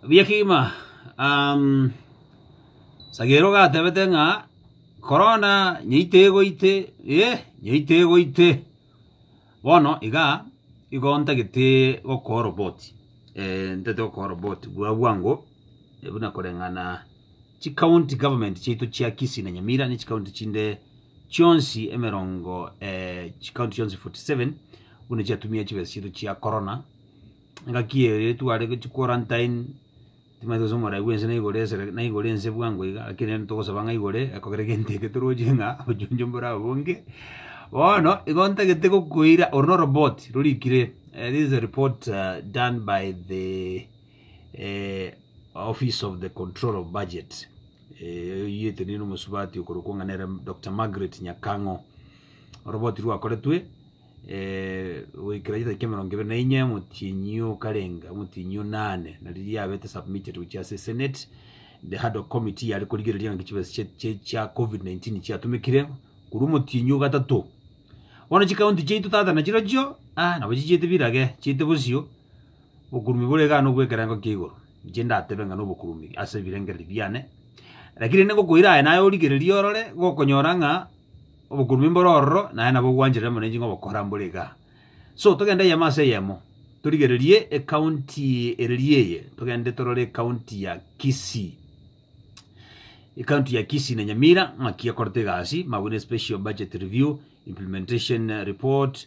Buya kegima um, sagero gatebete ng'a korona nyaito egoite eh, nyaito egoite bono iga igo ntagete gokoa oroboti eh, ntagete gokoa oroboti bwa bwango eh, buna koreng'ana chikaunti government chiaito chia Kisii na Nyamira ne chikaunti chinde chionsi emerongo eh, chikaunti chionsi 47 buna chiatumia chibesa chiaito chia korona engaki eye ere tware gochi quarantine, timanyete gose omorai bwense na igoro esere na igoro ense bwango iga, lakini rende togosaba ng'a igoro eye ekogera egento eke toroche ng'a obuchonjo mbore abo bonge. Bono igo ntagete gokoira oro na oroboti rorikire this is a report done by the office of the control of budget eyioetwe nere omosubati okorokwa ng'a nere Doctor Margaret Nyakang'o. Oroboti rwakoretwe goikera chisacha chi'emerongo ebere na inye, omotienyi oo okarenga omotienyi o nane, na riria yabete submitted gochia ase senate, the Haddock committee yare korigereria ng'aki chibesa chie- chie- chia covid 19 chiatomekire, korwa omotienyi o gatato. Bono chicounty chiaito tata nachirochio, ah, nabo chichiete birage, chiete bosio, obokurumi bore iga nobo bw'ekerengo kia igoro, inche ndatebe ng'a nobokurumi ase ebirengereri biane, rakini rende ngokoira aye naye origererie orore, gokonyora ng'a. Obokurubi mbore ororo, naye nabo ogwancherera mono enching'o gokora mbore iga. So, togende eyemo ase eyemo, torigererie ecounty ereria eye, togende torore ecounty ya Kisii. Ecounty ya Kisii na Nyamira ng'aki ekorete egasi, mabweine special budget review, implementation report,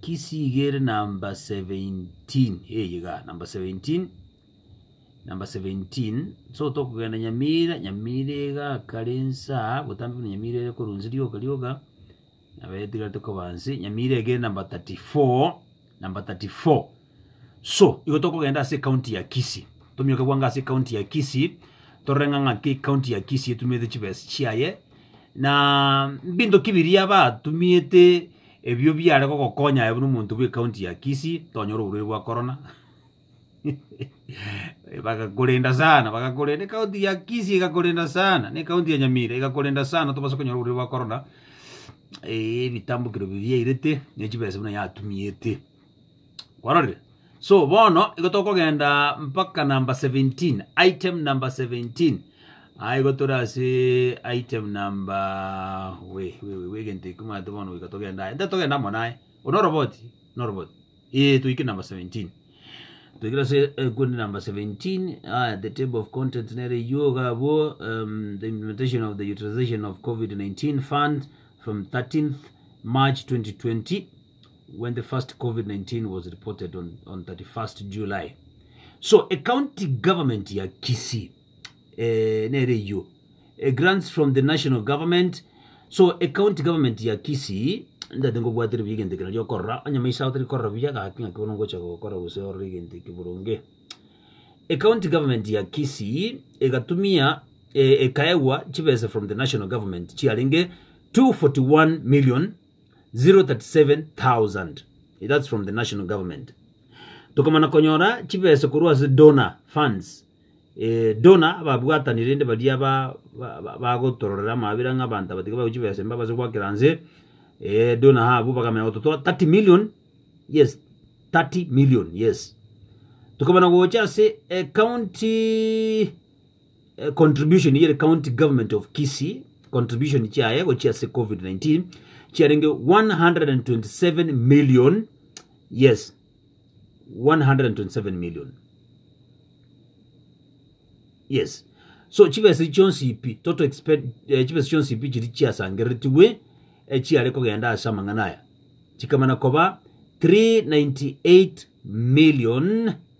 Kisigi ere number seventeen eye iga number seventeen number seventeen so tokogenda Nyamira Nyamira iga kare nsa botambe buna Nyamira ere korwa inse rioka rioka nabaetigari tokoba inse Nyamira iga ere number thirty four number thirty four. So igo tokogenda ase ekaunti ya Kisii, tomioke gwanga ase ekaunti ya Kisii, torore ng'a ng'aki ekaunti ya Kisii etumiete chibesa chiaye, na mbinto ki biria batumiete ebio biare gogokonya aye buna omonto bw'ekaunti ya Kisii, tonyore oborwaire bwa korona bagakorenda sana, bagakorenda ekaunti ya Kisii egakorenda sana, na ekaunti ya Nyamira egakorenda sana tobase konyora oborwaire bwa korona, ebitambo kero biria yairete, ne chibesa buna yatumiete. kwarorire so bono igo tokogenda mpaka number 17 item number 17 Ah, igo tore ase item number we we we we egento ekio mate bono goika togenda aye nta togenda amo naye ono oroboti no roboti ee toike number 17 toikire ase ekundi number 17 ah, the table of content nere eywo iga abwo um, the implementation of the utilization of covid-19 fund from 13th march 2020 when the first Covid-19 was reported on, on 31st July. So a county government ya Kisii eh, nere iyo eh, grants from the national government so a county government ya Kisii ndati ngobwatire buya egento ekero riokorora onye maiso ago torikorora buya gaki ng'aki bono ngocha gokora gose orore egento eki boronge a county government ya Kisii egatumia eh, ekaegwa chibesa from the national government chiarenge 241 million 037,000 that's from the national government tokamana konyora chibesa korwa ase donor funds eh, donor ababwatani rende baria ba- ba- ba- bagotororera amabera ng'a abanto abatiga bago chibesa mba base gwakera nse eh, donor habu bakamenya gototoa 30 million yes 30 million yes tukamana gocha ase eh, county contribution yere county government of Kisii contribution chiaye gochia ase COVID-19 chiarenge 127 million yes 127 million yes so chibesa chionsi ipi total expend eh, chibesa chionsi ipi chiri chiasangereretiwe eh, chiare kogenda ase amang'ana aya chikamana koba 398 million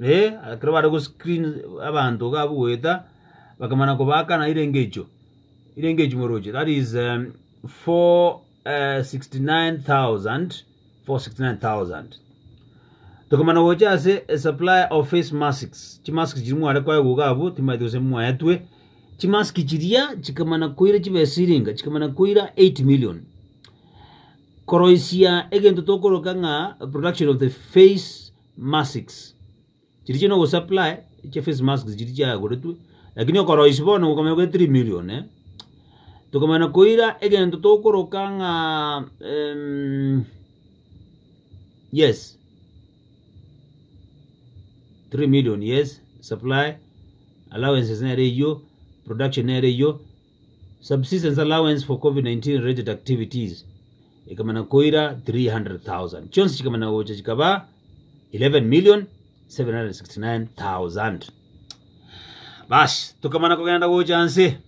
Ee, ekero bare goscreen abanto iga abwo goeta, bakamana kobakana ire engecho, ire engecho morooche, that is um, four, eh, 69,000, 469,000. Tokamana gocha ase a supply of face masks, chimask chiria mware koegwa iga abwo, timaeti gose mwaetwe, chimask chiria chikamana koira chibe siringa, chikamana koira 8 million. Koroisia egento tokoroka ng'a production of the face masks. Chiria chire nogosupply chia face masks chiria chiagoretwe, lakini okoroisia bono gokomenya kore 3 million, tokomana koira egento tokoroka ng'a yes, 3 million yes, supply, allowances nere eyio, production nere eyio. Subsistence allowance for Covid-19 related activities ekamana koira 300,000. Chionsi chikamana gocha chikaba 11,769,000. Basi, tokamana kogenda gocha nse.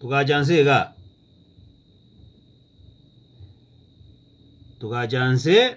Tugacha nse iga. Tugacha nse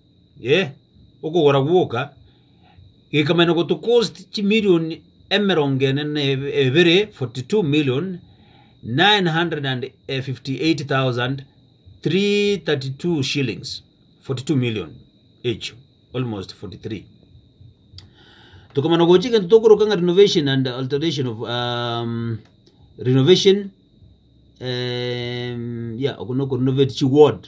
ee, okogora gwoka gekamanyana gotocost chimilion emerongo ene na ebe- ebere, 42,958,332 shillings, 42 million echio, almost 43. Tokamana gochia egento tokoroka ng'a renovation and alteration of um, renovation em, yeah, oko noko renovate chiward,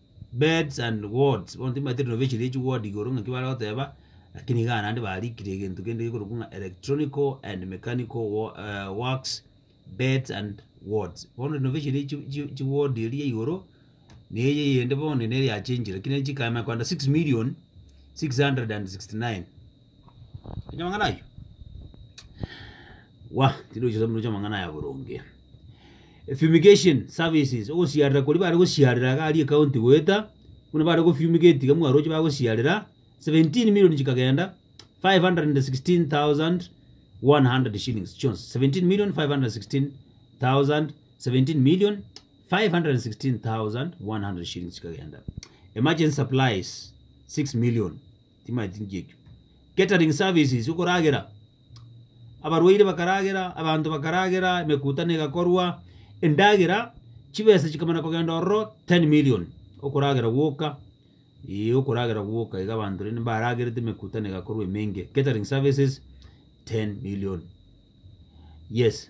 Beds and wards, bono timaete renovation ye chiward igoro ng'aki bare goteba, lakini iga naende barikire egento kende gekorokwa ng'a electronical and mechanical wa- eh, works, beds and wards. Bono renovation ye chi- chi- chiward eria igoro, na eye eyende bono nere yachenchire, lakini ere chikana kogenda six million, six hundred and sixty nine. Amang'ana ayio wa tirochia soa morochia amang'ana aya boronge. Fumigation services ogosiarera koria bare gosiarera iga aria ekaunti goeta buna bare go fumigate iga mwaroche bagosiarera seventeen million chikagenda 516,100 shillings chionsi 17,516,000 17,516,100 shillings chikagenda emergency supplies 6 million Timaeti nchiekio. Catering services okoragera. Abarwaire bakaragera, abanto bakaragera, emekutano egakorwa, endagera chibesa chikamana kogenda ororo 10 million okoragera gwoka, eeh okoragera gwoka iga abanto rende mbaragerete emekutano egakorwa emenge. Catering services 10 million. Yes.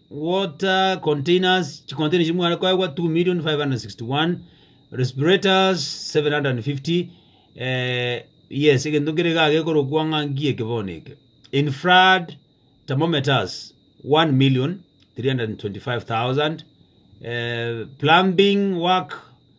water containers, chicontainer echi mware koegwa 2,561,000, respirators 750, eh, yes, egento nkere iga gekorokwa ng'a nki eke bono eke. Infrared thermometers 1,325,000, eh, plumbing work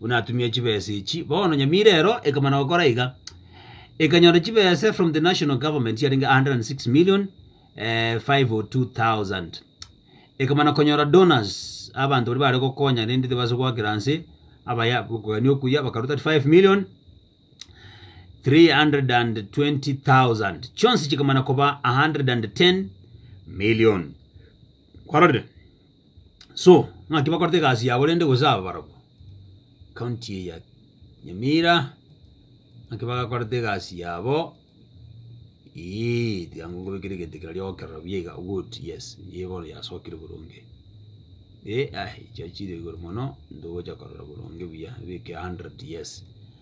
buna atumia chibesa echi. Bono Nyamira ero ekamana gokora iga, ekanyora chibesa from the national government chiarenge 106 million eh, 502,000. Ekamana konyora donors, abanto bari bare gokonya rende tibase goakera nse, abaya kogani okuya bakaruta 5 million 320,000 chionsi chikamana koba 110 million kwarorire so ng'aki bakorete egasi yabo rende gose aba barabwo county eye ya Nyamira ng'aki bagakorete egasi yabo eeh tiga ngokobekera egento ekero riogo kerora buya iga good yes eye bono yasokire boronge eh aye chiaye chire igoro mono ntogocha korora boronge buya beke hundred yes.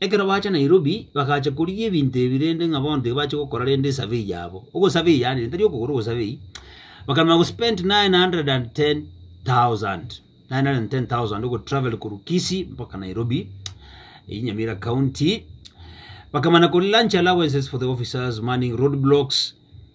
Ekero bacha Nairobi bagacha korigia ebinto ebi rende ng'a bono tibabache gokora rende esurvey yabo. Ogosurvey yaani tari okogora ogosurvey, bakarema gospend 910,000, 910,000 ogotravel korwa Kisii mpaka Nairobi, eyio Nyamira County, bakamana kori lunch allowances for the officers manning roadblocks,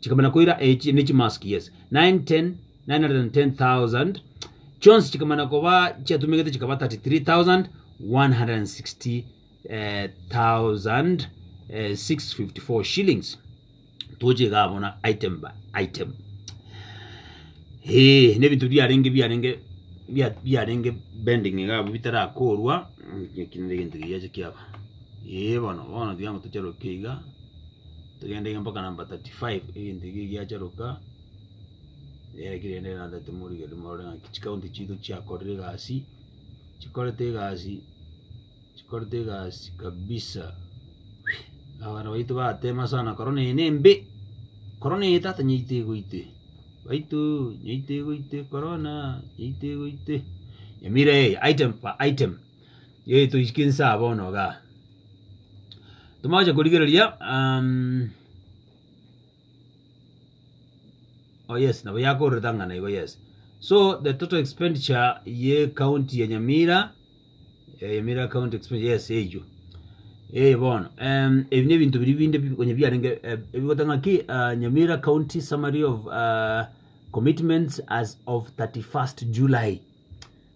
chikaba na koira echi ne chimask yes 9 10 910000 chionsi chikaba na koba chiatumegete chikaba 3360654 shillings toche iga abona item by item eh ne bintu biarenge biarenge bia- biarenge bending iga abwo bitarakorwa mm, eki nere egento kiyache kiaba eh bono bono tiga ngotocherokia iga Togendege mpaka number 35 egento ekio giacha Ruka yarekire ere na that morigereria morore ng'a chi county chiaito chiakorire egasi chikorete egasi chikorete egasi kabisa abana baito batema sana korona eye nembe korona eye tata nyaito egoite baito nyaito egoite korona nyaito egoite nyamira eye item per item Yei toisike inse aa bono iga. Tomoche korigereria um, Oh yes, nabo yakororete ang'ana igo yes. So the total expenditure ye county ya Nyamira, eh, Nyamira county expenditure yes eyo. Eh bono, em ebi ne bintu biri binde bikonye biarenge eh, ebigotanga ki uh, Nyamira county summary of uh, commitments as of 31st July.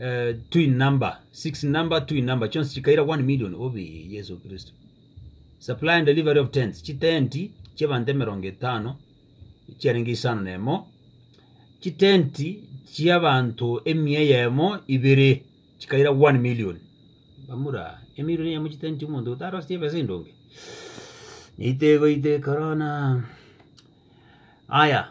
eh, twin number six number twin number chionsi chikaira 1 million obe yesu kristo supply and delivery of tents chitenti chiabanto emerongo etano chiarenge isano nemo chitenti chiabanto emia eyemo ibere chikaira 1 million bamura emilion eyemo chitenti omonto otarostie ebesa endonge neitego ite korona aya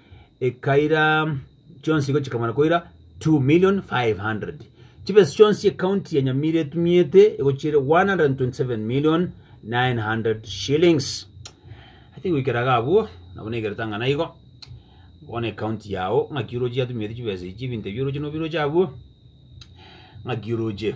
ekaira chionsi igo chikamana koira 2 million 500 chibesa chionsi ekaunti ya nyamira etumiete igo chire 127 million 900 shillings ati goikera iga abwo nabo naigerete ang'ana igo bono ekaunti yao ng'aki oroche yatumiete chibesa echi ebinto ebi oroche nobiroche abwo ng'aki oroche